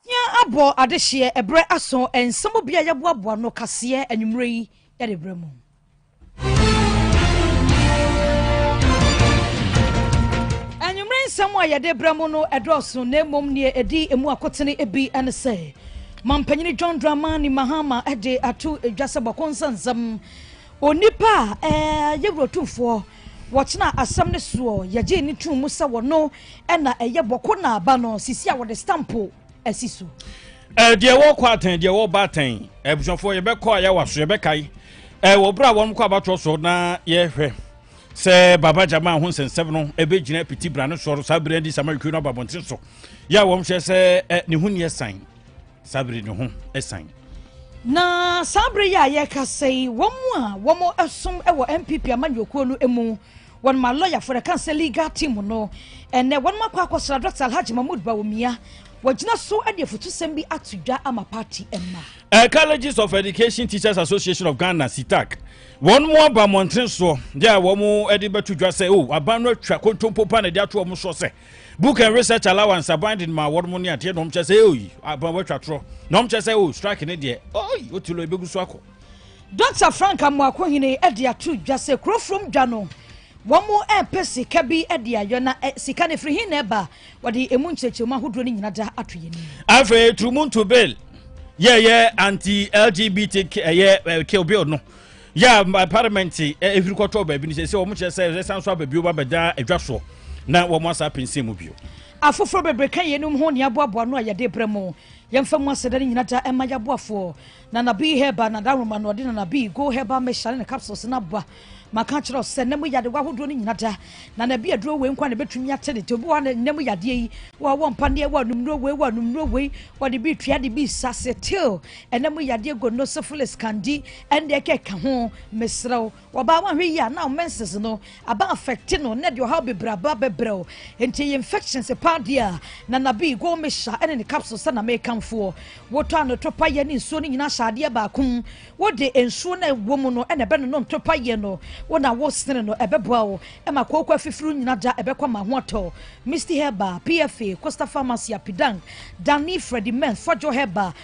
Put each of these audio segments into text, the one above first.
Hia abɔ adehyeɛ ɛberɛ aso nsɛm bi a yɛboaboa no kaseɛ anwummerɛ yi de berɛ mu. anwummerɛ nsɛm a yɛde berɛ mu no ɛdɔɔso na mmom neɛ ɛdi emu akotene bi ne sɛ mampanyini john dramani mahama de ato dwa sɛ bɔko nsa nsɛm Onipa a ɛyɛ wuratumfoɔ wɔkyenaa asɛm no soɔ yɛgyee ne tum mu sɛ wɔno ɛna ɛyɛ bɔko na aba no sisi a wɔde stampo asi so. Eh, deɛ wɔkɔ atɛn deɛ wɔba atɛn eh, abusuafoɔ yɛbɛkɔ a yɛawa so yɛbɛkae eh, wɔ berɛ a wɔn kɔ abatoɔ so na yɛhwɛ sɛ baba gyama ho nsɛnsɛm no ɛbɛgyina piti bra no soɔ no saa berɛ adi sama twi no aba mmɔnten so yɛ a wɔn hyɛ sɛ ne ho nniɛ san Saa bere no ho san. Na saa bere yi a yɛrekasa yi, wɔn a wɔsom wɔ NPP amanyɔkuo no mu wɔn ma lɔyafo na kan sɛ legal team no ɛnɛ wɔn akɔ akɔsra dɔkta alhaji mahmood bawumia wɔgyina so de afutusɛm bi ato dwa ama party mma. Uh, colleges of education teachers association of ghana sitak wɔn mu aba mmɔnten soɔ yɛ a wɔn de bɛto dwa sɛ o oh, aban no atwa kontompo pa na de ato wɔn soɔ sɛ book and research allowance aban de ma wɔn ne adeɛ na wɔn kyɛ sɛ oyi aban wɔatwa torɔ na wɔn kyɛ sɛ o strike ne deɛ oyi o ti lɔ ebegu so akɔ. dr frank amoakohene de ato dwa sɛ kurofrom dwa no wɔn repɛ sika bi de ayɔ na eh, sika no firi hin na ɛba wɔde emu nkyerɛkyerɛmu ahodoɔ no nyina da ato yɛn anim. afei turumuntu bill yɛyɛ anti lgbt ɛyɛ eh, eh, kill bill no yɛ a parliament ɛhwiri kɔtɔ baabi no sɛ sɛ wɔn kyerɛ sɛ ɛsan so aba bio ba bɛda adwa soɔ na wɔn asa apɛnsɛn mu bio. afoforɔ bebree ka yeinom ho ne aboaboa no a yɛde brɛ mo yɛmfa mu aseda no nyina da ɛma yɛaboafoɔ nanabi herba na daroma na ɔde nanabi go herba mixture ne ne capsules no aboa maka kyerɛ sɛ nna mu yade wahodoɔ no nyina da na na bi aduro wei nkwa na bɛtumi ate ne to bi wɔ nna mu yadeɛ yi wɔ wɔ mpa neɛ wɔ anumnuo wei wɔ anumnuo wei wɔde bi tua de bi sa se till Ɛna mu yadeɛ gonosyphilis, kandi, ɛndeɛ kɛka ho, mesrɛ wo, wɔbaa wahwɛ yie a, na wo menses no aba affect no, na ɛde ɔhaw bebree aba bɛbrɛ wo, nti ɛyɛ infections paa deɛ a, Nana Bee, Gold Mixture ɛne ne capsules na mekamfoɔ. Wotɔ ano to payɛ ne nsuo no nyinaa hyɛ adeɛ baako mu, wode nsuo no a ɛwɔ mu no na ɛbɛnonom to payɛ no, wo na wo sene no, ɛbɛboa wo ma kooko afifiri wo nyina da, ɛbɛkɔ ama ho atɔ. Misty Herbal, PFA, Costa Pharmacy, Apidang, Danny, Freddie Mens, Fɔdwo Herbal,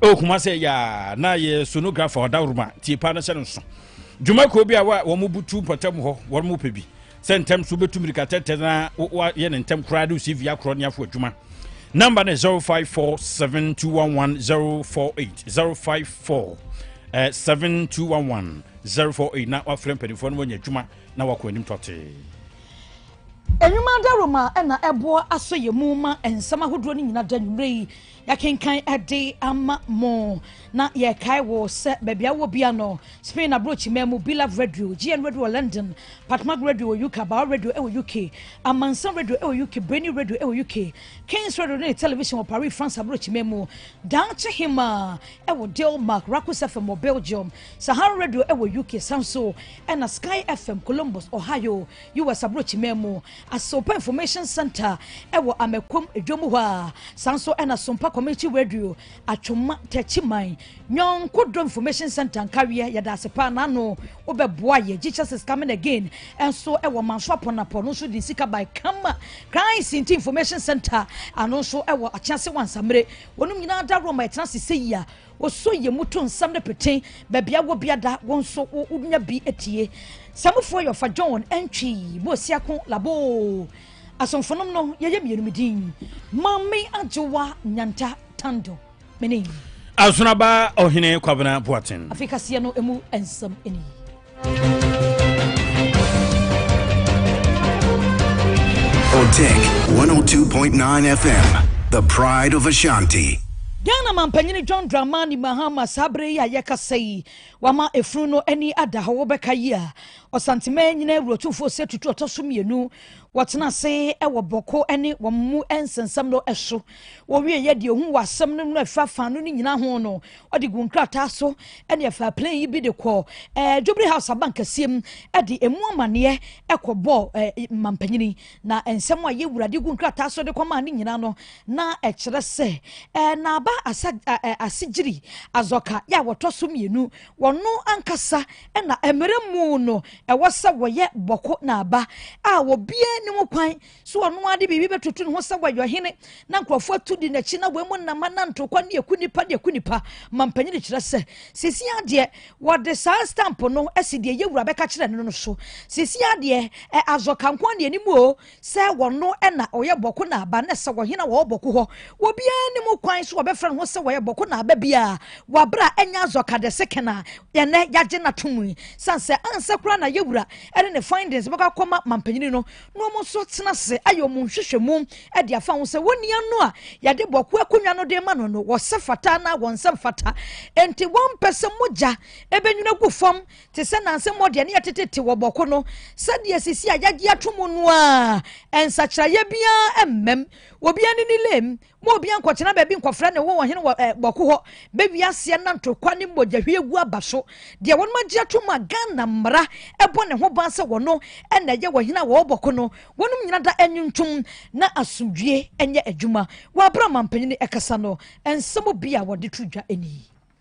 ɛwɔ kuma sɛ yaa na yɛ sonographer ɔdawroma tie paa no hyɛ no nso dwuma kuo bi a wɔn butu mpɔtam hɔ wɔn mu pɛ bi sɛ ntɛm so bɛtu mirika tɛtɛ na wɔyɛ ne ntɛm koraa de cv akorɔ ne afo adwuma namba no 0547211048 054 eh, 7211 048 na wafrɛ mpanimfoɔ no wɔnya adwuma na wakɔ anim tɔtee nnwuma daroma na ɛboa asɔ yɛ mu ma nsɛm ahodoɔ no nyina da nwummerɛ yi Yɛakenkan ɛde ama mo na yɛkae wo sɛ baabi a wɔ bia no Spain aborɔkyima mu Bilab Radio, GN Radio wɔ London, Patmag Radio wɔ UK, Bauer Radio wɔ UK, Amansan Radio wɔ UK, Breni Radio wɔ UK, Kings Radio ne television wɔ Paris, France aborɔkyima mu, Daakye Hema wɔ Denmark, Rakus FM wɔ Belgium, Sahara Radio wɔ UK, san so ɛna Sky FM Columbus, Ohio, US aborɔkyima mu. Asompa Information Centre wɔ Amakom dwom hɔ a, saa nso na Asompa Community Radio, Atwoma, Techiman, Nyɔnko Dɔ Information Centre, Nkaweɛ, yɛda ase paa na ano wobɛboa yɛ. Jesus is coming again nso wɔ Manso Apɔnapɔ, no nso de sika by Kama Christ Nti Information Centre, ano nso wɔ Akyease Wansamire. Wɔnom nyinaa da roma ɛtena ase sɛ yi a, Woso yɛ mu to nsɛm no pete. Baabi a wɔ biada wo nso wonya bi atie. Samufoɔ yɛ ɔfa John ɛntwi mu osiako laboo. Asomfonom no yɛyɛ mmienu me din. Maame Adwowa Nyanta Tando. Mene. Asonaba Ɔhene Kwabena Boaten. Afei kaseɛ no emu nsɛm ni. Otik 102.9 FM, the pride of Ashanti. Ghana mampanyini John Dramani Mahama saa bere yi a yɛkasa yi wama efunu no ani ada hɔ wɔbɛka yi a ɔsantemɛ nyina awurotumfoɔ sɛ tutu ɔtɔ so mmienu wɔtena ase wɔ bɔko ne wɔn mu nsɛnsɛm no so wɔwie yɛ deɛ ohun wɔ asɛm no mu afa fa no ne nyina ho no ɔde gu nkrataa so ne ɛfaa plane yi bi de kɔɔ ɛɛ eh, Jubilee House abankɛseɛ mu de emu amaneɛ ɛkɔbɔɔ ɛɛ eh, mampanyini na nsɛm a yɛwura de gu nkrataa so de kɔmaa ne nyinaa no na ɛkyerɛ sɛ ɛɛ eh, n'aba asa ɛɛ asegyiri azɔka yɛ a wɔtɔ so mmienu wɔn ankasa ɛna mmerɛ mu no ɛwɔ sɛ wɔyɛ bɔko n'aba a wɔbie ne ho kwan So ɔno ara de biribi bɛtoto ne ho sɛ wɔyɛ ɔhene na nkurɔfoɔ atu di n'akyi na wɔamu nam ananto kwan ne aku nnipa ne aku nnipa ma mpanyin de kyerɛ sɛ sisi adeɛ wɔde saa stamp no asi deɛ yɛwura bɛka kyerɛ no no so sisi adeɛ ɛ azɔ kanko ne anim o sɛ wɔn no ɛna ɔyɛ bɔko na aba ne sɛ wɔhene a wɔwɔ bɔko hɔ wɔbiara ne mu kwan so wɔbɛfrɛ ne ho sɛ wɔyɛ bɔko na aba biara wɔabra ɛnyɛ azɔ kadɛse kena yɛnɛ yɛagye no ato mu yi san sɛ ansɛ koraa na yɛwura ɛne ne findings bɛkɔ akɔma ma mpanyin no na wɔn nso tena ase ayɛ wɔn nhwehwɛmu de afa ho sɛ wɔn nua no a yɛde bɔko akonnwa no de ma no no wɔsɛ fata anaa wɔn nsɛm fata nti wɔmpɛ sɛ mogya ɛbɛnwuna gu fam te sɛ nanse mmɔ deɛ ne yɛtetete wɔ bɔko no sɛdeɛ sisi a yɛagye ato mu no a nsakyerɛeɛ biara mmam obiara ne ne lem Ma obiara nkɔtena baabi nkɔfrɛ ne ho ɔhene wɔ eh, bɔko hɔ. Bɛwi aseɛ nanto kwa ne mogyahwie gu aba so. Deɛ wɔnom agye atom a Ghana mmara ɛbɔ ne ho ban sɛ wɔno ɛna ɛyɛ ɔhene a wɔwɔ bɔko no, wɔnom nyina da ɛnwontom na asomdwie ɛnyɛ adwuma. Wɔ abere a ɔmampanin no ɛkasa no, nsɛm bi a wɔde to dwa ɛni.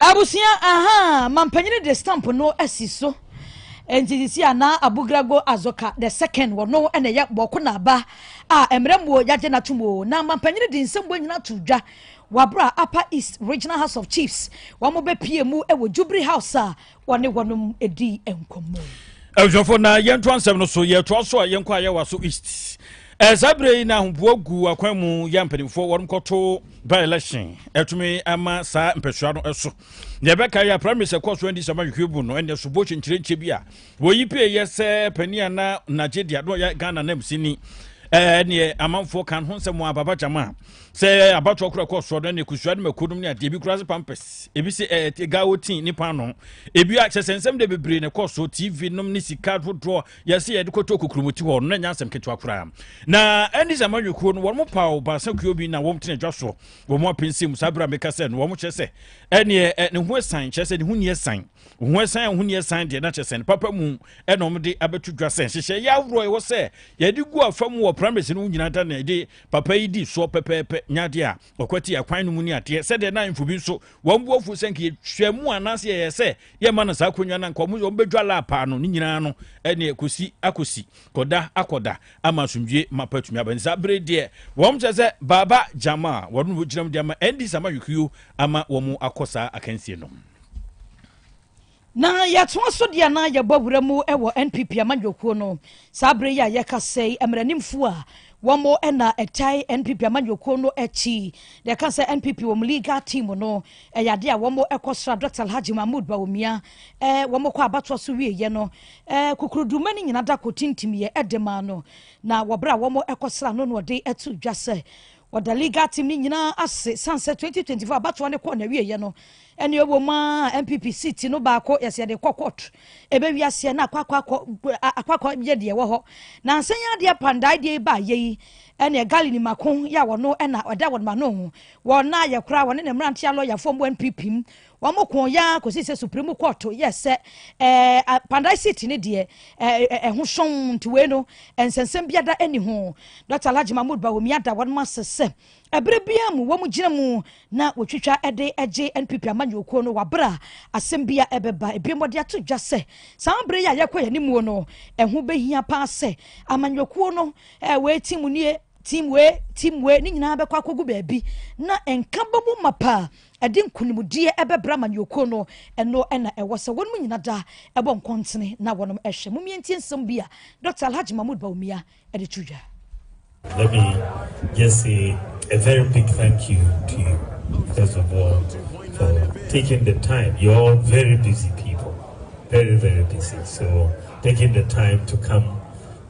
Abusua ahaa mampanyini de stamp no asi so nti sisi a na Abugrago Azoka the second wɔ no na ɛyɛ bɔɔko na aba a mmerɛ muo yagye na tum o na mampanyini de nsɛm bɔ nyina to dwa wabra Upper East Regional House of Chiefs wɔn bɛ pie mu wɔ Jubilee House a wɔne wɔnom dii nkɔmmɔ yi. abusuafo na yɛnto ansɛm no so yɛtoa so a yɛnkɔ a yɛwa so east eh, saa berɛ yi na ahoboa gu akwan mu yɛ mpanimfoɔ wɔnom kɔto by election ɛtumi ama saa mpɛsoa no ɛso deɛ ɛbɛka yɛ primaries ɛkɔ so andi sama hwehwɛ bu no ɛne ɛsobo kyenkyerɛnkyɛ bi a wɔyi pie yɛ sɛ pani a na nagye deɛ no ɔyɛ ghana nam sini ɛneɛ amanfoɔ kan ho nsɛm a baba gyama sɛ ɛyɛ abatoɔ kora kɔ soɔ no ne kusua no mako nom ne adeɛ bi kora se pampers ebi sɛ ɛɛ gawo tii ne paano ebi a kyɛ sɛ nsɛm de bebree na ɛkɔ so tv nom ne sika dodoɔ yɛsɛ yɛde kɔtɔ kukurumuti hɔ no na ɛnyɛ asɛm ketewa koraa na ɛne sɛ amanyɔkuo no wɔn mo paw baasa kuo bi na wɔn tena dwa soɔ wɔn mo apɛnsi mu saa berɛ a meka sɛ no wɔn mo kyɛ sɛ ɛneɛ ne ho ɛsan kyɛ sɛ ne ho ni ɛsan ho ɛsan a ho ni ɛsan deɛ na kyɛ sɛ ne papa mu ɛna wɔn de abɛto dwa sɛ nhyehyɛ yɛ ahoroɔ ɛwɔ sɛ yɛde gu afa mu wɔ primaries no nyinaa da na ɛde Papa yi di soɔ pɛpɛɛpɛ, nyɛ adeɛ a ɔkwati akwan no mu ne adeɛ, sɛdeɛ na ahemfo bi nso, wɔn bo afu sɛ anka yɛtwa mu anaasɛ yɛyɛ sɛ yɛmma no saa akonnwa no, anka wɔn bɛdwa lap ano, ne nyinaa no, ɛneɛ kɔsi akɔsi, kɔda akɔda, ama asomdwie mapa atumi aba. Nti saa bere deɛ, wɔn kyerɛ sɛ Baaba Gyama a wɔn na wɔgyina mu de ama NDC ama Yokio ama wɔn akɔ saa akansie no. Na yɛtoa so deɛ na yɛbɔ wura mu wɔ NPP amanyɔkuo no saa berɛ yi a yɛkasa yi mmaranimfoɔ a wɔn na ɛtae NPP amanyɔkuo no akyi na ɛka sɛ NPP wɔn legal team no ɛyɛ adeɛ a wɔn kɔ sra Dr. Alhaji Mahmood Bawumia ɛɛ wɔn kɔ abatoɔ so wieɛ no ɛɛ kukuruduma no nyinaa da kɔ tintimiɛ ɛde maa no na wɔbrɛ a wɔn kɔ sra no na ɔde ato dwa sɛ Wɔda legal team no nyinaa ase san sɛ 2024 abatoɔ no kɔɔ n'awieɛ no ɛne ɛwɔ mu a NPP seat no baako yɛsɛ yɛde kɔ court ɛbɛwi aseɛ na akɔakɔ yɛ deɛ ɛwɔ hɔ na nsɛn yɛ adeɛ pandae deɛ yi baayɛ yi ɛne gali ni mako yɛ a wɔno ɛna ɛda wɔn ma no wɔn na yɛ koraa wɔne ne mmeranteɛ lɔyafoɔ mu NPP mu Wɔkoo yɛn ara kɔsii sɛ Supreme Court yɛɛ sɛ ɛɛ Pandai seat no deɛ ɛɛ ɛho sɔn nti wei no nsɛnsɛm biara ɛni ho. Dɔkta Alhaji Mahmood Bawumia da wɔn ase sɛ ɛberɛ biara mu wɔn gyina mu na wɔtwitwa ɛde ɛgye NPP amanyɔkuo no wɔ aberɛ a asɛm bi a ɛbɛba. Ebiem wɔde ato dwa sɛ saa aberɛ yi a yɛkɔ yɛn animuo no ɛho bɛhia paa sɛ amanyɔkuo no ɛɛ wei team nie team wei team wei ne nyinaa bɛkɔ akɔgu baabi na nka bɛmu ma paa Ɛde nkonimdie ɛbɛbrɛ amanyɔkuo no, ɛno na ɛwɔ sɛ wɔnom nyina da ɛbɔ nkɔntene na wɔnom ɛhwɛ. Momie ntie nsɛm bi a Dɔkta Alhaji Mahmood Bawumia ɛde to dwa. Let me just say a very big thank you to you, first of all, for taking the time. You're all very busy people, very, very busy. So, taking the time to come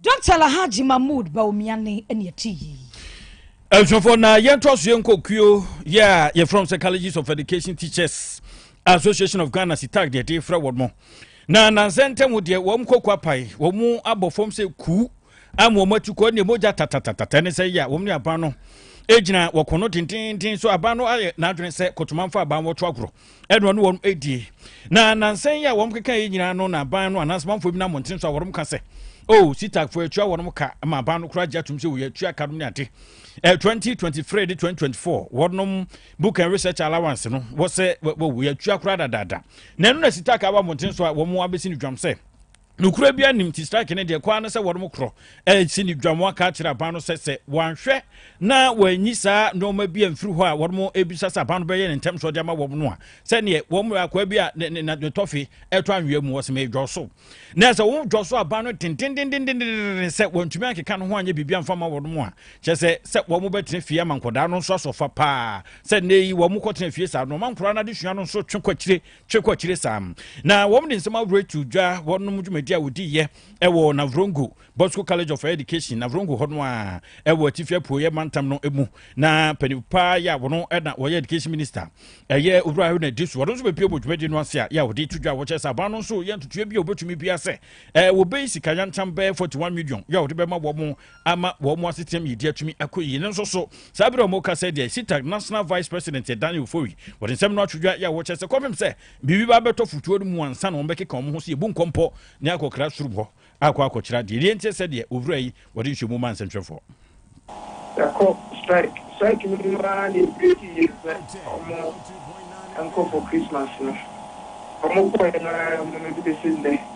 Doctor Alhaji Mahmood Bawumia ne ɛne ɛte yi. Ɛnhwɛfoɔ na yɛn to aso yɛn kɔ kuo yɛ a yɛfrɛ sɛ Colleges of Education Teachers Association of Ghana sitak deɛ ɛde frɛ wɔn mo na nansɛ ntɛm deɛ wɔn kɔkɔ apae wɔn abɔ fam sɛ kuu ama wɔn atu kɔ ne mogya tatatatata ne sɛ yɛ a wɔn ne aban no egyina wɔkɔ no tententen so aban no ayɛ n'adwene sɛ kɔtɔmanfo aban wɔto agorɔ. ɛna ɔne wɔn ɛdie na nansan yi a wɔn keka yɛ nyinaa no na aban no anaasɛ manfoɔ bi no amɔnten so a wɔn ka sɛ o oh, sitakfoɔ atua wɔn ka ma aban no koraa gye atom sɛ wɔyɛ atua ka nom ne ade eh, 2023 de 2024 wɔnom book and research allowance no wɔsɛ wɔyɛ atua koraa dadaada na ɛno na sitaka aba mmɔnten so a wɔn abɛsi no dwam sɛ Nokorɛ biara nnim nti strike no deɛ kɔ ara ne sɛ wɔnom korɔ ɛresi ne dwa mo aka akyerɛ aban no sɛ sɛ wɔanhwɛ na wɔanyi saa nnoɔma bi amfiri hɔ a wɔnom ɛbisa sɛ aban no bɛyɛ ne ntɛm so ɔde ama wɔm no a sɛdeɛ wɔm akoa bi a ne, ne, ne tɔfe ɛtɔ anwea mu wɔsɛ medwɔ so na sɛ wɔn dwɔ so aban no dendendendendenden sɛ wɔntumi ankeka no ho anyɛ biribi amfa ma wɔnom a kyɛ sɛ sɛ wɔn bɛtena fie ama nkɔdaa no nso asɔfa paa sɛ nnɛ yi wɔn kɔtena fie saa nnoɔma nkɔdaa no adesua no nso twe kɔ akyire twe kɔ akyire saa na wɔn de nsɛm ahorow atu dwa wɔnom dwumadi a wɔdiiɛ ɛwɔ navrongo bosco college of education navrongo hɔ no a ɛwɔ atifi apueɛ mantam no mu na panyin paa yɛ a wɔn ɛna wɔyɛ education minister ɛyɛ owura ahoro na edi so wɔn nso bɛpie wɔ dwumadi no ase a yɛ a wɔde to dwa wɔkyɛ sɛ aban no nso yɛ ntutuo bi a wɔbɛtumi bi asɛ ɛɛ wɔbɛyi sika yantam bɛɛ forty one million yɛ a wɔde bɛma wɔn ama wɔn asetenam yɛdi atumi akɔ yie no nso so saa berɛ a wɔka sɛ deɛ sitag national vice president ɛdane ofori wɔde nsɛm no atwodwa yɛ a wɔkyɛ sɛ kɔpem sɛ biribi ba bɛtɔ fotuo no mu ansa na wɔbɛkeka wɔn ho sɛ yɛbu nkɔmpɔ ne akɔkra sorom hɔ akɔ akɔkyerɛ adeɛ deɛ nti sɛ deɛ owura yi wɔde nsuomu ma nsɛntwerɛfoɔ yɛkɔ strike strike no mu ara na ɛbreki yɛ sɛ ɔmo nkɔ for christmas no ɔmo kɔɛ no ara mu no de bɛsi nnɛ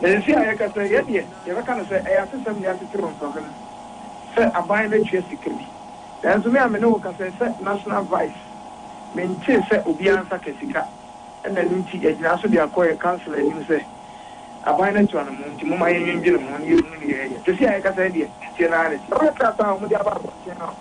Na nsii a yɛka sɛ yɛn deɛ yɛbɛka no sɛ ɛyɛ atesɛm de atetew mframa mu sɛ aban no atua sika bi. Nanso me a me ne wo kasa yi sɛ National Vice, mentee sɛ obiara nsa ka sika. Ɛna ɛno nti yɛgyinaa so de akɔ yɛn councillor anim sɛ aban no atua no mo nti momma yɛnnwendwene ho na yɛnhunu nea yɛyɛ. Sesei a yɛkasa yi deɛ, tie no ara ne sɛ. Wɔyɛ krataa a wɔde aba abɔnten no a.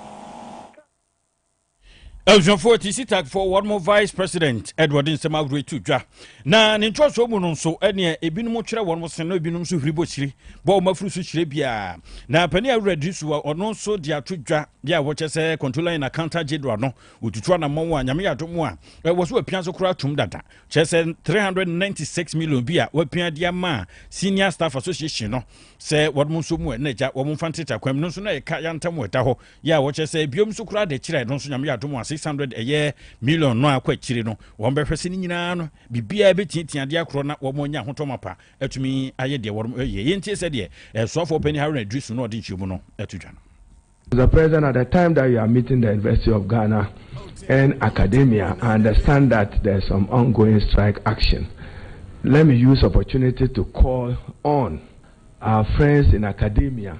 abusuafoɔ ti sitakfoɔ wɔn mo vice president ɛde wɔde nsɛm ahorow to dwa na ne nkyerɛsoɔ mu no nso ɛneɛ ebinom kyerɛ wɔn mo sen na ebinom nso huri bɔ kyire bɔ wɔn afuru so kyerɛ biara na panin awura di so a ɔno nso de ato dwa bi a wɔkyɛ sɛ controller in accountant general no wɔtutu anamɔn a nyame yɛado mu a ɛwɔ so apia so koraa tom dada kyerɛ sɛ 396 million bi a wɔapia de ama senior staff association no sɛ wɔn nso mu ɛna agya wɔn mfa nteta kwam no nso na ɛka yantam ɛda hɔ Yɛ a wɔkyerɛ sɛ biom nso koraa de kyerɛ no nso Nyame yɛ adom a 600 ɛyɛ million no akɔ akyire no wɔn bɛhwɛ sɛ ne nyinaa no biribiara bɛtiatia adeɛ akorɔ na wɔn anya ahotɔ mapa atumi ayɛ deɛ wɔn ɛyɛ yɛn tie sɛdeɛ ɛsoafoɔ panin Haruna Idrisu no ɔde nkyerɛmu no ɛto dwa no. Mr. President, at the time that you are meeting the University of Ghana and academia, I understand that there's some ongoing strike action. Let me use opportunity to call on our friends in academia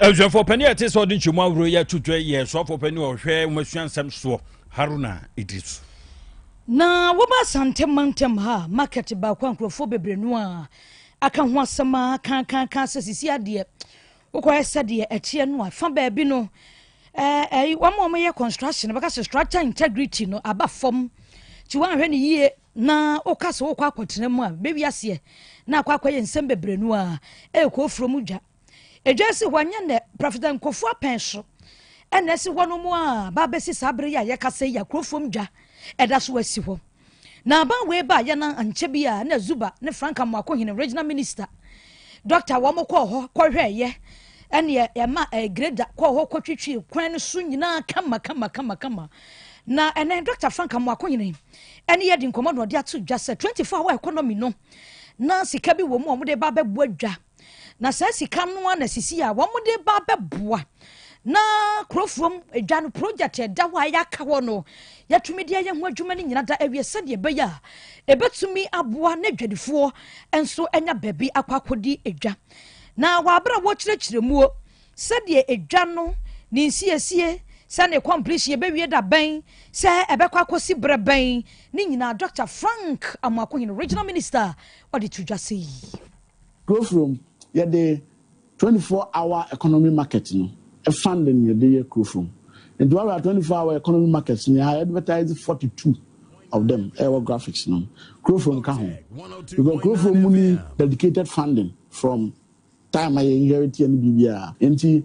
Abusuafoɔ panin a ɛte sɛ ɔde nkyɛmu ahoroɔ yɛ atutwɛ yɛ asuafoɔ panin a ɔhwɛ wɔn asua nsɛm soɔ Haruna Idris. Na wɔba Asante mantam ha market baako a nkurɔfoɔ bebree no a aka ho asɛm a kankankan sɛ sisi adeɛ wokɔyɛ sɛdeɛ ɛteɛ no a fa baabi no ɛɛ wɔn a wɔyɛ construction bɛka sɛ structure integrity no aba fam nti wɔanhwɛ no yie Na woka sɛ wokɔ akɔtena mu a, bɛwi aseɛ na akɔ akɔyɛ nsɛm bebree no a, ɛrekɔ ofuro mu dwa. Edwa si hɔ nyɛ nɛ, Prɔfɛt Nkofu apɛn so ɛna ɛsi hɔ no mu a, ba bɛsi saa bere yi a yɛkasa yi a, kuro fam dwa ɛda so asi hɔ. Na aban wei ba yɛ na ankyɛ bi a, na Zuba ne Frank Amoako Hene Regional Minister, Dɔkta wɔn kɔɔ hɔ kɔhwɛɛyɛ ɛneɛ ɛma ɛɛ greda kɔɔ hɔ kɔtwitwie kwan no so nyinaa kama kama kama kama. Na ɛnɛ Dɔkta Frank Amoako Hene ɛne yɛadi nkɔmmɔ na ɔde ato dwa sɛ 24 hour economy no na sika bi wɔ mu a wɔde ba abɛboa dwa na saa sika no a na sisi a wɔde ba abɛboa na kurofuom edwa no project ɛda hɔ a yɛaka hɔ no yɛtumi de ayɛ ho adwuma no nyina da awie sɛdeɛ ɛbɛyɛ a ɛbɛtumi aboa na adwadifoɔ nso anya baabi akɔ akɔdi edwa na wɔabrɛ a wɔkyerɛkyerɛ muo Sɛdeɛ edwa no ne nsiesie, sɛ ne completion yɛbɛwie da bɛn, sɛ ɛbɛkɔ akɔsi berɛ bɛn, ne nyinaa Dɔkta Frank Amoakohene, Regional Minister, ɔde to dwa sei. Kurofurom, Yɛde twenty four hour economy market no funding na yɛde yɛ Kurofurom. Nti woahwɛ a twenty four hour economy markets no yɛ advertise forty two of them ɛwɔ graphics no. Kurofurom ka ho. Because Kurofurom mu ni dedicated funding from Time a yɛ inherit yɛ no biribiara. Enti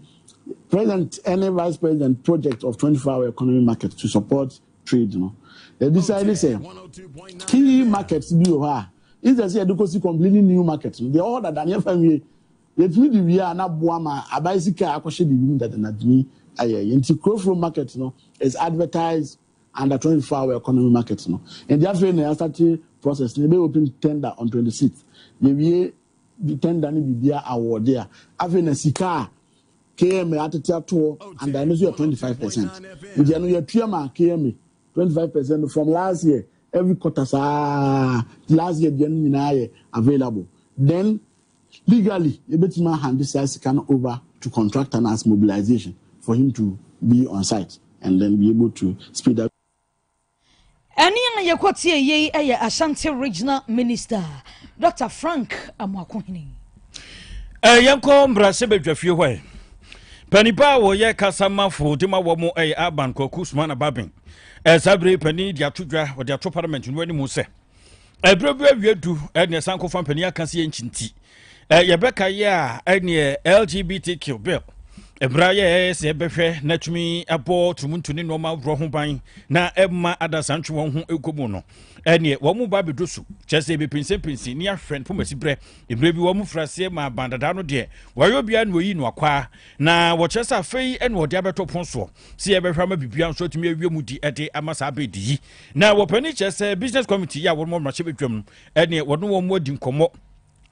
President ne Vice President project of 24 hour economy market to support trade no, yɛ decide sɛ key markets bi wɔ hɔ a instead sɛ yɛde kɔsi completely new market no, deɛ ɛwɔ hɔ dada no yɛfa nwie. Yɛtumi de wie a na aboa ma aban sika a akɔhyɛ biribi mu dada no atumi ayɛ yɛ. Enti Kurofuro market no is advertised under 24 hour economy market no. Enti afei na yɛastate process no, yɛbɛyɛ open tender on 26th. Yɛwie de tɛnda ne biribiara awɔɔde a, afei na sika a KMA atete atoɔ and ɛno nso yɛ 25 percent. Nti ɛno yɛtua ma KMA 25 percent no from last year every quarter saa last year deɛ no nyinaa yɛ available. Then legally yɛbɛtumi ahande saa sika no over to contractor no as mobilization for him to be on site and then be able to speed up. Ɛnne a yɛkɔtieeɛ yi yɛ Ashanti Regional Minister Dɔkta Frank Amoakohene. Eh, yɛnkɔ mbrahyɛbadwafie hɔ ɛ panipa a wɔyɛ kasamafo de ma wɔ mo ɛyɛ eh, aban kwaku sumana baben eh, saa bere pani de ato dwa wɔde ato parliament no anim sɛ ɛberɛ bi awie du ɛneɛ sanko fa mpanin aka sɛ yɛnkyi nti yɛbɛka yɛ a ɛneɛ lgbtq bill mmerɛ yɛ ɛyɛ sɛ ɛbɛhwɛ na tumi abɔ tumuntu ne nnoɔma worɔ ho ban na ɛma adasantwe wɔn ho ɛkɔ mu no ɛneɛ wɔn mu ba bɛdɔ su kyɛ sɛ ɛbɛpinsɛmpinsi ne ahwɛ no pomasi berɛ mmerɛ bi wɔn mu firi aseɛ ma abandadaa no deɛ wɔayɛ obiara na wɔyi no akwaa na wɔkyerɛ sɛ afei ɛne wɔde abɛtɔ pon soɔ sɛ yɛbɛhwɛ ama biribiara nso atumi awie mu di ɛde ama saa bɛdi yi Na wɔpɛ ani kyerɛ sɛ business committee yi a wɔn mmarahyɛ badwam no ɛne wɔne wɔn adi nkɔmmɔ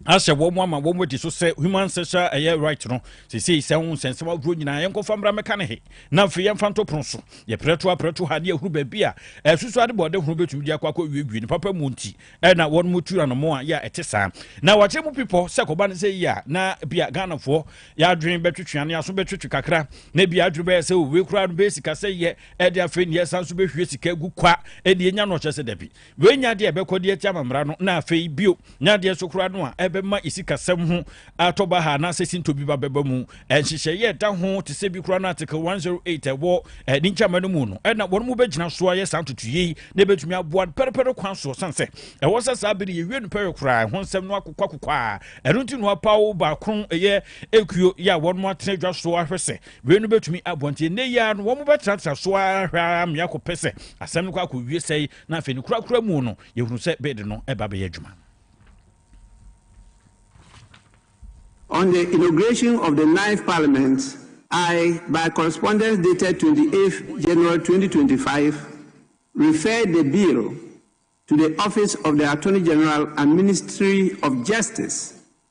ahyɛ wɔn ama wɔn adi so sɛ human sexual ɛyɛ right no sesei sɛ ho nsɛnsɛm ahorow nyinaa yɛnkɔfa mmra mmɛka ne he na afei yɛmfa nto pono so yɛprɛto aprɛto ha ne yɛhunu baabi a ɛsusu ade bɔɔde horow bɛtumi de akɔ akɔ wiewie ne papa mu nti ɛna wɔn mu tu anamo a yɛ a ɛte saa na wɔakyɛ mu pipɔ sɛ kɔba no sɛ yi a na bia ghanafoɔ yɛadwene bɛtwetwe ane aso bɛtwetwe kakra na bia adwene bɛyɛ sɛ owe koraa no bɛyɛ sika sɛ yɛ ɛde afei ne yɛsan so bɛhwie sika agu kwa ɛde ɛnya no ɔkyɛ sɛ dabi wei nya adeɛ ɛbɛkɔ de ati amammara no na afei bio nya adeɛ so koraa no a ɛbɛma ɛsikasɛm ho atɔ ba ha anaasɛ sintɔ bi ba bɛba mu nhyehyɛeɛ ɛda ho te sɛ bi koraa no article 108 ɛwɔ ɛne nkyama no mu no ɛna wɔn mu bɛgyina so ayɛ saa ntotoyei na ɛbɛtumi aboa pɛrɛpɛrɛ kwan soɔ sane sɛ ɛwɔ sɛ saa bere yɛwie no pɛrɛ koraa ɛho nsɛm no akokɔ akokɔ a ɛno nti no apaw baakron ɛyɛ ɛkuo yɛ a wɔn atena dwa so ahwɛ sɛ Wei no bɛtumi aboa nti ɛnɛ yi ara no wɔn bɛtenatena so ara hwɛ ara mmea kɔ pɛ sɛ asɛm no kɔ akɔwie sɛe na afei no korakora mu no yɛhunu sɛ bɛde no ɛba bɛyɛ adwuma. On the inauguration of the ninth parliament, I, by correspondence dated 28th January 2025, referred the bill to the Office of the Attorney General and Ministry of Justice,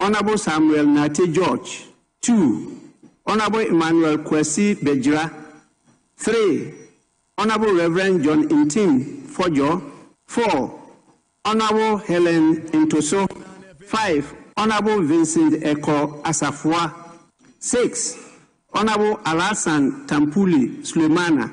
Honourable Samuel Nartey George, two, Honourable Emmanuel Kwasi Begyira, three, Honourable Rev. John Ntim Fodjo, four, Honourable Helen Ntoso, five, Honourable Vincent Ekoh Asafua, six, Honourable Alhassan Tampuli Sulemana,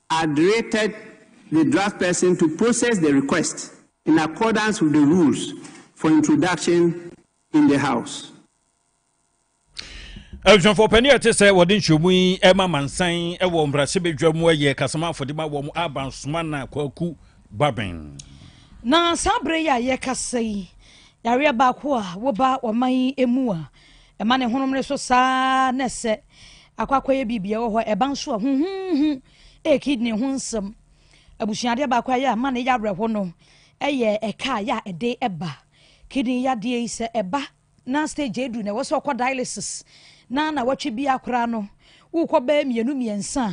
are directed the draftsperson to process the request in accordance with the rules for introduction in the House. abusuafoɔ pɛne ɛte sɛ wɔde nkyerɛmu yi ɛma mansan ɛwɔ mbrasɛbɛdwa mu ɛyɛ kasama afɔde ma wɔn abansoma na kwaku baben na saa berɛ yi a yɛkasa yi yareɛ baako a woba ɔman yi mu a Ɛma ne honom no so saa ara na ɛsɛ akɔ akɔyɛ biribi ɛwɔ hɔ ɛba nso a huhuhu ɛyɛ kidney ho nsɛm abusuadeɛ baako a yɛ ama ne yɛ awerɛho no ɛyɛ ɛka a yɛ a ɛde ɛba kidney yadeɛ yi sɛ ɛba na stage edu na ɛwɔ sɛ ɔkɔ dialysis na na wɔtwe bi akora no wokɔ bɛɛ mmienu mmiɛnsa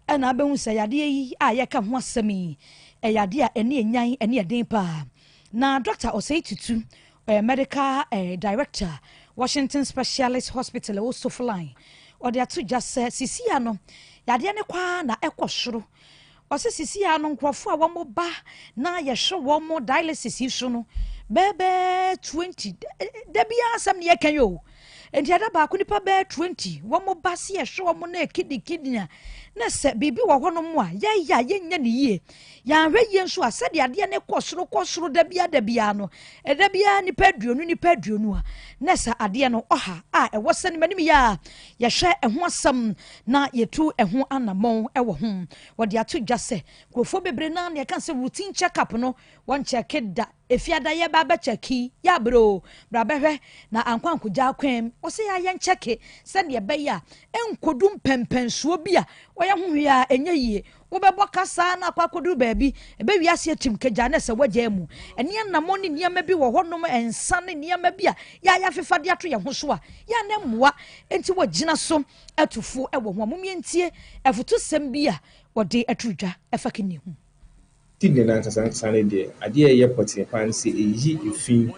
ɛna abɛhu sɛ yadeɛ yi a yɛka ho asɛm yi ɛyɛ adeɛ a ɛne ɛnyan ɛne ɛden paa na dɔkta ɔsɛe tutu eh, medical eh, director washington specialist hospital ɛwɔ sofoline ɔde ato dwa sɛ sisia no yadeɛ no kwaa na ɛkɔ soro ɔsɛ sisia no nkurɔfoɔ a wɔn ba na yɛhwɛ wɔn dialysis yi so no bɛɛbɛɛ twenty da biara asɛm ne yɛka yi o nti ɛda baako nipa bɛɛ twenty wɔn ba se yɛhwɛ wɔn na ɛkidikidi a na sɛ biribi wɔ hɔnom a yɛyɛ a yɛnyɛ ne yie Yɛanhwɛ yie nso a sɛdeɛ adeɛ no kɔ soro kɔ soro da biara da biara no ɛda biara nipa aduonu nipa aduonu a na sɛ adeɛ no ɔha a ɛwɔ sɛ ne manim yɛ a yɛhwɛ ɛho asɛm na yɛtu ɛho anammɔn ɛwɔ ho wɔde ato dwa sɛ nkurɔfoɔ bebree no a na yɛka sɛ routine check up no wɔnkyɛke da efiada yɛ ba abɛkyɛke yɛ abere o bra bɛhwɛ na ankɔ ankogya akwan mu wɔsɛ yɛ ayɛ nkyɛke sɛdeɛ ɛbɛyɛ a ɛnkɔdu mpɛmpɛnsoɔ bi a wɔyɛ ho hwee a ɛnyɛ yie Wobɛbɔ kasa na akɔ akɔduru baabi, ɛbɛwie aseɛ kyim kagyaa na ɛsɛ wagyaa mu. Ɛne anammɔn ne nneɛma bi wɔ hɔnom, nsa ne nneɛma bi a yɛa yɛafefa de ato yɛn ho so a, yɛa na mmoa nti wɔgyina so atu fo wɔ ho a. Mom yɛntie afutusɛm bi a wɔde ato dwa ɛfa Kini ho. Kidney no ankasankasa no deɛ, adeɛ a ɛyɛ pɔtee paa ne sɛ ɛyi efi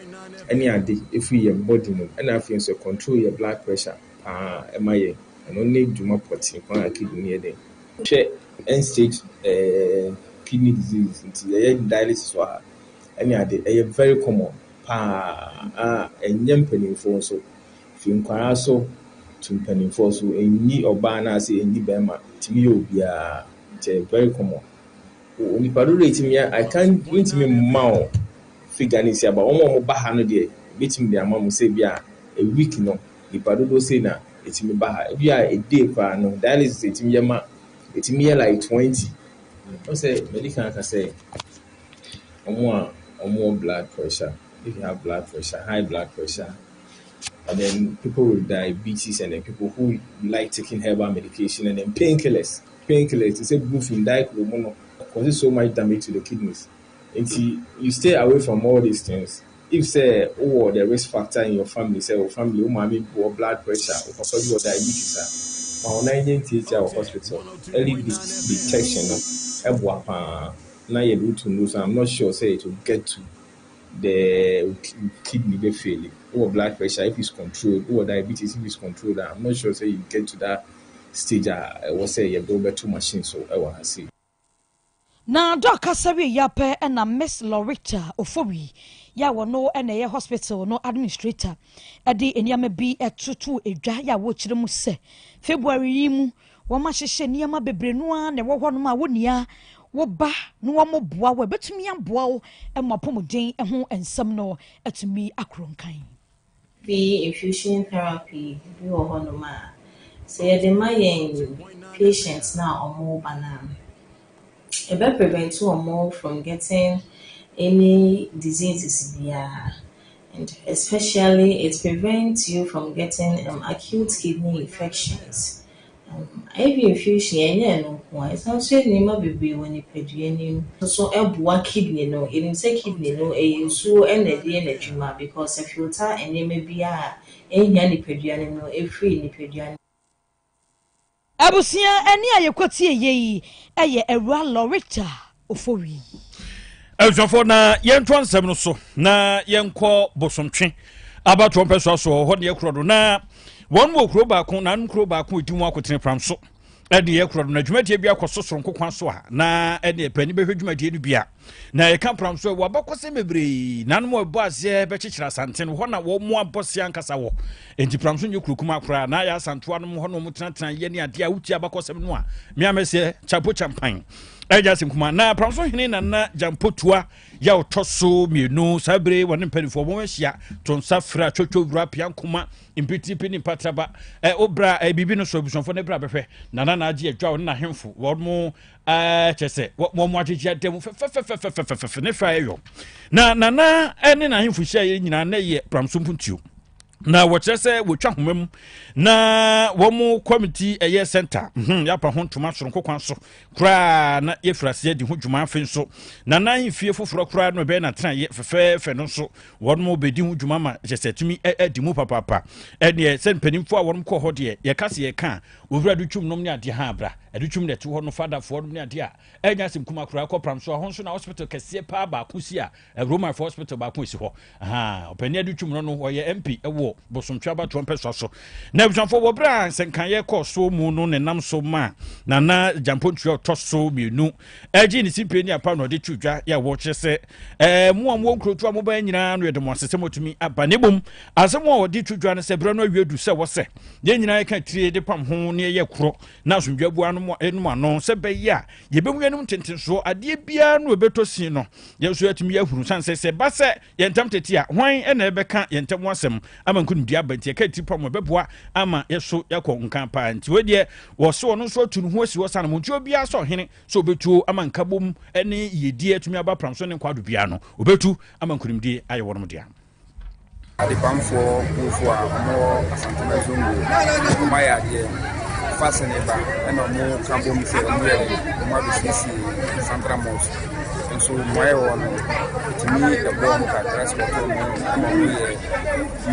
ne ade firi yɛn body mu ɛna afei nso ɛcontrol yɛn blood pressure paa ɛma yɛn. Ɛno ne dwuma pɔtee paa a kidney no yɛ den. Hwɛ end stage eh, kidney disease nti yɛyɛ dialysis wɔ ha ɛne ade. Ɛyɛ very common paa a ɛnyɛ mpaninfoɔ nso, firi nkwadaa so to mpaninfoɔ so. Ɛnyi ɔbaa anaasɛ ɛnyi barima, ɛtumi yɛ obiara nti ɛyɛ very common. Nnipa dodoɔ a ɛtumi a I can't mentumi mma wo figure no sei but wɔn a wɔba ha no deɛ mɛtumi de ama mo sɛ ebi a a week no nnipa dodoɔ sei na ɛtumi ba ha ebi a a day koraa no dialysis ɛtumi yɛ ma ɛtumi yɛ like twenty wɔn sɛ mɛdi kan aka sɛ wɔn a wɔwɔ blood pressure if you have blood pressure high blood pressure and then people with diabetes and then people who like taking herbal medication and then painkillers. pain killers te sɛ brufen, diclofenac mu no cause so much damage to the kidneys nti you stay away from all these things if sɛ wowɔ the risk factor in your family sɛ wo family wo maame bi wɔ blood pressure wo papa bi wɔ diabetes a ma wo nan nyɛ ntiatia wɔ hospital early detection no ɛboa paa na yɛde wo to nose I'm not sure sɛ it will get to the kidney bɛ fail wowɔ blood pressure if it's controlled wowɔ diabetes if it's controlled I'm not sure sɛ you get to that stage a ɛwɔ sɛ yɛde wo bɛto machine so wɔ ha sei. Na Doc kasa wieeɛ ara pɛ na Miss Loretta Ofowii yi a ɔno na ɛyɛ hospital no administrator de nneɛma bi to too dwa a wɔkyerɛ mu sɛ February yi mu wɔahyehyɛ nneɛma bebree no ara na ɛwɔ hɔnom a wo nua wo ba na wɔboa wo a ɛbɛtumi aboa wo ma apɔmuden ho nsɛm no atumi akoro nkan. Bi infusion therapy bi wɔ hɔ nom a sɛ yɛde ma yɛn patients no a wɔn ba no a ɛbɛ prevent wɔn from getting any diseases biara and especially it prevent you from getting acute kidney infections. Ivy infusion yɛ nyɛ ɛno nko a ɛsan nso yɛ nneɛma bebree wɔ nipadua no mu. Nso ɛboa kidney no yɛnim sɛ kidney no ɛyɛ nsuo na ɛde yɛ n'adwuma because ɛfilta nneɛma bi a ɛnhia nipadua no no ɛfiri nipadua no mu. Abusua ɛne a yɛkɔtieyɛ yi yɛ Awura Loretta ofowii. abusuafoɔ na yɛntoa nsɛm no so na yɛnkɔ bosomtwe abatoɔ mpɛ so aso hɔ deɛ korɔ do na wɔn wɔ kuro baako na anom kuro baako ɛdi mu akotene pram so ɛdeɛ korɔ do na dwumadie bi akɔ so soronko kwan so a na ɛdeɛ pɛni bɛhwɛ dwumadie no bi a na ɛka pram so ɛwɔ abakɔsɛm bebree na anom ɛbɔ aseɛ bɛkyekyerɛ asanten hɔ na wɔn mu abɔ se ankasa wɔ enti pram so nyɛ kurokuma koraa na ayɛ asantoa nom hɔ na wɔn tenatena yɛ ne adeɛ a wotie abakɔsɛm no a meamɛseɛ chapo champan ɛnyɛ asɛm kuma na pramso hene nana gyampotua yɛ ɔtɔ so mmienu saa bere wɔne mpanimfoɔ wɔn ahyia to nsa fra twotwo wura pia nkoma mpitiripi ne mpatraba ɛ obra ɛ biribi no so abusuafoɔ no bra bɛhwɛ nana na agye adwa wɔne n'ahemfo wɔn mo ɛɛ kyɛ sɛ wɔn mo agyegye adan mu fɛfɛfɛfɛfɛfɛfɛ ne hwɛ ayɛ yɔ na nana ne n'ahemfo hyia yɛ nyinaa na yɛ pramso mpuntuo na wɔkyerɛ sɛ wɔtwa homa mu na wɔn kɔmiti ɛyɛ center mhm, yɛapa ho ntoma soronko kwan so koraa na yɛfiri aseɛ di ho dwuma afe nso na na mfie foforɔ koraa no ɛbɛyɛ natenaeɛ fɛfɛɛfɛ no nso wɔn bɛdi ho dwuma ma kyɛ sɛ tumi adi mu papaapa ɛneɛ sɛ mpanimfoɔ a wɔn kɔ hɔ deɛ yɛka se yɛka a wɔwura de twum nom ne adeɛ ha abra ɛde twum na ɛte hɔ no fadafoɔ nom ne adeɛ a ɛnyɛ asɛm kuma koraa kɔpram so a ho nso na hospital kɛseɛ paa baako si a Roma fo hospital baako esi hɔ. Ahaa, ɔpanyin adi twum no no, ɔyɛ MP wɔ Bosontwe abatoɔ mpɛsoa so. Na abusuafoɔ wɔ berɛ a nsɛnkaeɛ kɔɔ so mu no ne nam so ma Nana Gyampontua ɔtɔ so mmienu ɛgye ne simpe ne apa na ɔde to dwa yɛ wɔkyerɛ sɛ ɛɛ mo a mo wɔ nkurotu a mo bɛn nyinaa no yɛde mo ase sɛ motumi aba ne bom asɛm a ɔde to dwa no sɛ berɛ no awie du sɛ wɔ sɛ yɛn nyinaa yɛka tire de pam ho ne ɛyɛ korɔ na asomdwa bua no mu ano sɛ bɛyɛ a yɛbɛmu yɛnom ntentensoɔ adeɛ biara no ɛbɛtɔ sin no yɛn nso yɛatumi yɛ ahunu sane sɛ sɛ ɛba sɛ yɛn ntam tete a hwan na ɛbɛka yɛn ntam ho asɛm ama nkonimdie aba nti ɛka tiri pa mu ɛbɛboa ama yɛso yɛakɔ nka paa nti wei deɛ wɔse ɔno nso atu ne ho asi hɔ sane mu nti obiara sɛ ɔhene sɛ ɔbɛtuo ama nkabom ne yiedie atumi aba pram so ne nkwaado biara no ɔbɛtu ama nkonimdie ayɛ wɔnom dea Adepamfoɔ Mufo a wɔwɔ Asantuma Zongo no wɔayɛ adeɛ. Fa Seneba na wɔka bom sɛ wɔyɛ wɔabɛsiesie Santra Mosque. Nso mmuaeɛ wɔ no ɛtumi ɛboɔ wɔn kakra sɛ wɔtɔ wɔn ama wɔyɛ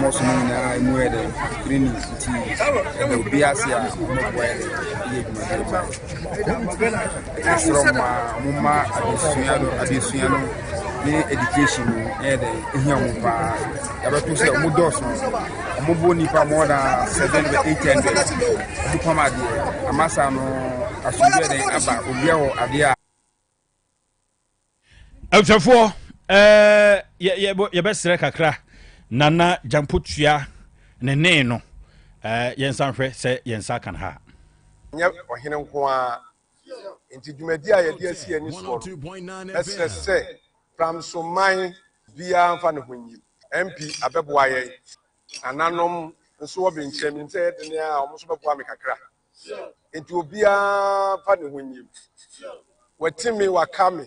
mosque no nyinaa mu yɛ dɛ green nti ɛda obi ase a wɔboa yɛ dɛ yɛ adwumadeɛ Yɛsrɛ mo a momma adesua no adesua no ne education no ɛyɛ dɛ ehia mo paa yɛbɛto sɛ ɔmo dɔɔso ɔmo bo nipa more than seven to eight hundred ɔmo pam adeɛ amasa no asomdwe dɛn aba obia wɔ adeɛ a Abusuafoɔ, ɛɛ yɛ yɛ yɛbɛsrɛ kakra Nana Gyampotua ne nee no ɛɛ yɛn nsa nhwɛ sɛ yɛn nsa kan ha. Nyɛ ɔhene nko ara nti dwumadi a yɛde asi yɛn ani soɔ no, mɛsrɛ sɛ Pramso man biara mfa ne ho nyi. MP abɛboa yɛn, nananom nso wɔ benkyɛn, menim sɛ ɛyɛ dene a, wɔn nso bɛboa me kakra. nti obiara mfa ne ho nyim wɔte me waka me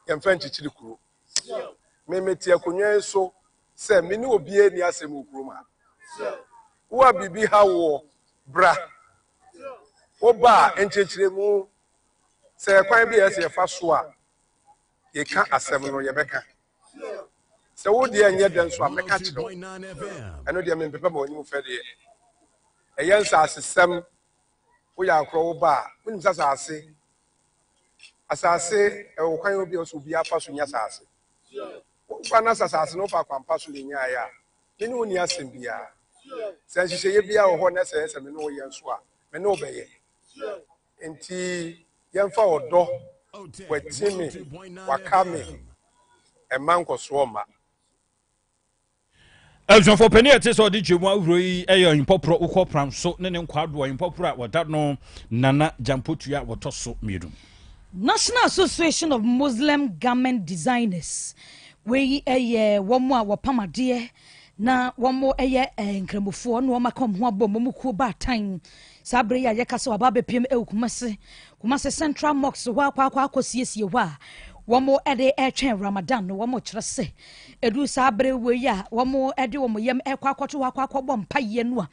yɛmfa nkyekyere kuro me mete akonnwa yi so sɛ me ne obiara ni asɛm wɔ kurom ha wo a biribi ha woɔ bra woba a nkyerɛkyerɛmu sɛ kwan bi a ɛsɛ yɛfa so a Yeka asem no yɛbɛka. Sɛ wo deɛ nyɛ dɛ nso a mɛka akyerɛ wo. Ɛno deɛ mempepɛ ma w'anim fɛ deɛ. Ɛyɛ nsasesɛm. Wo yɛ akorɔ wo ba a, wonim sɛ asase asase ɛwɔ kwan obi a ɛwɔ sɛ obiara fa so nya asase. Wo ba no sɛ asase no wofa akwampa so na enyaeɛ a, me ne wo nni asɛm biara. Sɛ nhyehyɛeɛ biara wɔ hɔ na ɛsɛ sɛ me ne wo yɛ nso a, me ne wo bɛyɛ. Enti yɛmfa ɔdɔ wati me waka me mma nkɔsoɔ mma. Abusuafoɔ panin a ɛte sɛ ɔde Twam ahorow yi yɛ Ɔhempɔporɔ Wokɔ Pram so ne ne nkwadoɔ Ɔhempɔporɔ a wɔda no Nana Gyampotua a wɔtɔ so mmienu. National Association of Muslim Garment Designers wei yɛ wɔn a wɔpam adeɛ na wɔyɛ eh, nkramofoɔ na wɔaka wɔn ho abom wɔn kuo baatan Saa bere yi a yɛka sɛ waba abɛpiem ɛwɔ Kumase, Kumase Central Mosque hɔ akɔ akɔ akɔsiesie hɔ a wɔn ɛde ɛretwɛn Ramadan no, wɔn kyerɛ sɛ ɛduru saa bere wɔ yi a wɔn ɛde wɔn yam ɛkɔ akɔto hɔ akɔ akɔbɔ mpaeɛ no a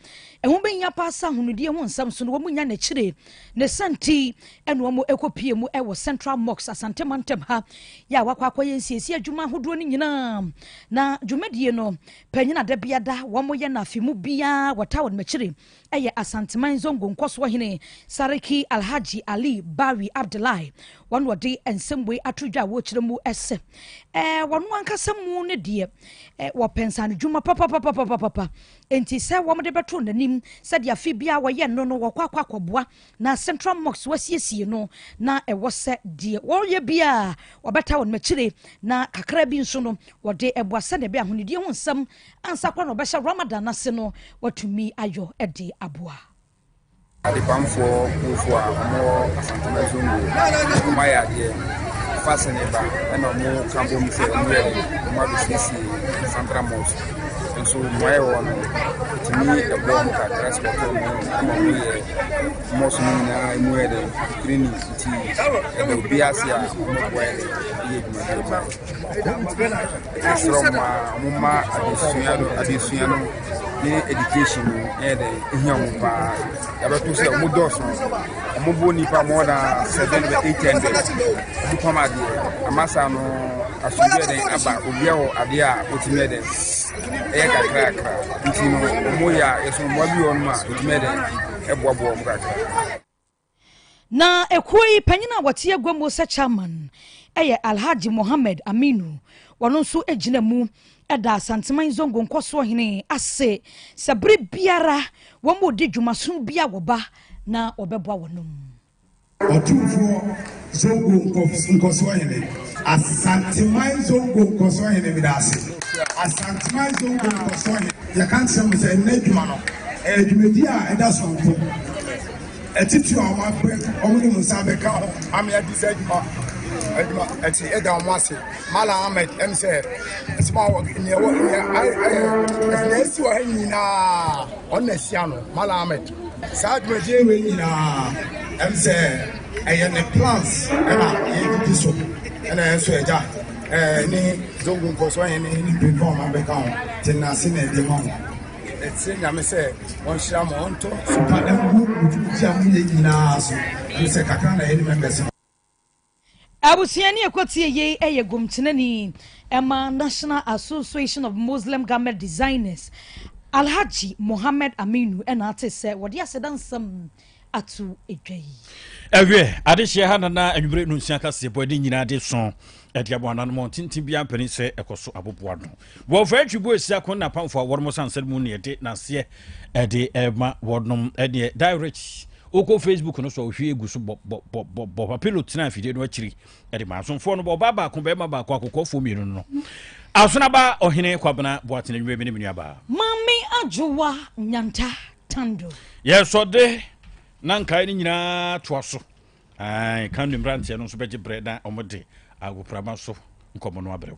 ɛho bɛhia paa sɛ ahonodie ho nsɛm so no wɔn nya n'akyire ne sɛnti ɛna wɔn ɛkɔ pie mu ɛwɔ Central Mosque Asante Mantam ha yɛ a wakɔ akɔyɛ nsiesie adwuma ahodoɔ no nyinaa na dwumadie no panyina da biada wɔn yɛ no afe mu biara wɔta wɔn akyire yɛ Asanteman Zongo nkɔsoɔ hene Sariki Alhaji Ali Bawi Abdullahi, wɔn na wɔde nsɛmbuei ato dwa a wɔrekyerɛ mu sɛ ɛɛ wɔn ankasa mu ne deɛ ɛɛ wɔpɛ nsanodwuma papapapapapa nti sɛ wɔde bɛto n'anim sɛdeɛ afe biara wɔyɛ no no wɔkɔ akɔ akɔboa na Central Mosque wɔasiesie no na ɛwɔ sɛ deɛ wɔyɛ biara wɔbɛta wɔn akyire na kakra bi nso no wɔde ɛboa sɛdeɛ ɛbɛyɛ ahonidie ho nsɛm Ansa koraa na wɔbɛhyɛ Ramadan no ase no, wɔatumi ayɔ de aboa. Adepamfoɔ kuofoɔ a wɔwɔ Asantuma Zone wei, wɔayɛ adeɛ. Fa sene ba ɛna wɔka bom sɛ wɔyɛ de wɔn abɛsiesie Santra Mosque. Nso mmoaeɛ wɔ no, ɛtumi ɛboa mu kakra sɛ wɔtɔ mu ama wɔyɛ mosque no nyinaa ɛmu yɛ dɛ green nti ɛda obi ase a wɔboa yɛ dɛ yɛ adwumadeɛ paa. Yɛsrɛ wɔn a wɔmma adesua no adesua no ne education no ɛyɛ dɛ ehia wɔn paa yɛbɛto sɛ wɔn dɔɔso wɔn bo nipa more than seven to eight hundred wɔn pam adeɛ amasa no asomdwe dɛn aba obia wɔ adeɛ a wotumi dɛ ɛyɛ kakrakra nti no wɔn yɛ a yɛsɛ wɔn bi wɔn mu a wotumi dɛ ɛboaboa wɔn kakra. Na ekuo yi panyin a wɔte agua mu sɛ chairman yɛ Alhaji Mohammed Aminu, wɔno nso gyina mu da Asanteman Zongo nkɔsoɔ hene ase sɛ bere biara wɔn redi dwumasono bi a wɔba na wɔbɛboa wɔnom. Ɔtumfoɔ Zongo Nkɔsoɔhene. Asanteman Zongo Nkɔsoɔhene meda ase. Asanteman Zongo Nkɔsoɔhene. Yɛka nkyerɛ mo sɛ nnɛ adwuma no ɛyɛ dwumadi a ɛda soronko. Atitiri a wɔabrɛ wɔn de wɔn nsa abɛka ho ama yɛadi sɛ adwuma adwuma ɛte ɛda wɔn ase. Malam Ahmed ɛm sɛ ɛsɛm a wɔ nea ɛwɔ nea ayɛ ɛsɛ nea esi wɔ ha nyinaa ɔno na ɛsi ano Malam Ahmed. Saa dwumadie wei nyinaa ɛm sɛ ɛyɛ ne plans ɛna yɛdidi so ɛna yɛn nso agya ɛne zongo nkɔsoɔ yɛn ne ne pɛpɛ ɔma bɛka ho te nase na ɛde ma ho ɛsɛ nyame sɛ wɔnhyira ma ɔntɔ sopa ɛngu ntumitia mu yɛ nyinaa so ɛm sɛ kakra na yɛne mɛmbɛsɛ Abusua ni ɛkɔtie yei ɛyɛ gomtenani ɛma National Association of Muslim Garment Designers Alhaji Mohammed Aminu ɛna ate sɛ wɔde aseda nsɛm ato dwa yi. Ɛwiɛ adehyeɛ ha nana anwummere no nsia kaseɛ bɔ ɛde nyinaa de so ɛde abɔ ananmɔ tenten biara mpanin sɛ ɛkɔ so aboboa no wɔ fɛ atwi bu esi ako na apamfo a wɔnom sansɛn mu ne ɛde n'aseɛ ɛde ɛma wɔnom ɛdeɛ direct Wokɔ Facebook no so a ohwie gu so bɔbɔbɔbɔ. Papilo tenaa afidie no akyiri de maa asomfoɔ no ɔbaa baako, barima baako, akokoɔfoɔ mmienu no. Asonaba Ɔhene Kwabena Boatene Nnwuma bi ne me nuabaa. Maame Adwowa Nyanta Tando. Yɛsɔde na nkae no nyinaa toa so. Kan ne mmeranteɛ no nso bɛgye berɛ na wɔde agoprama so nkɔmmɔ no abrɛ.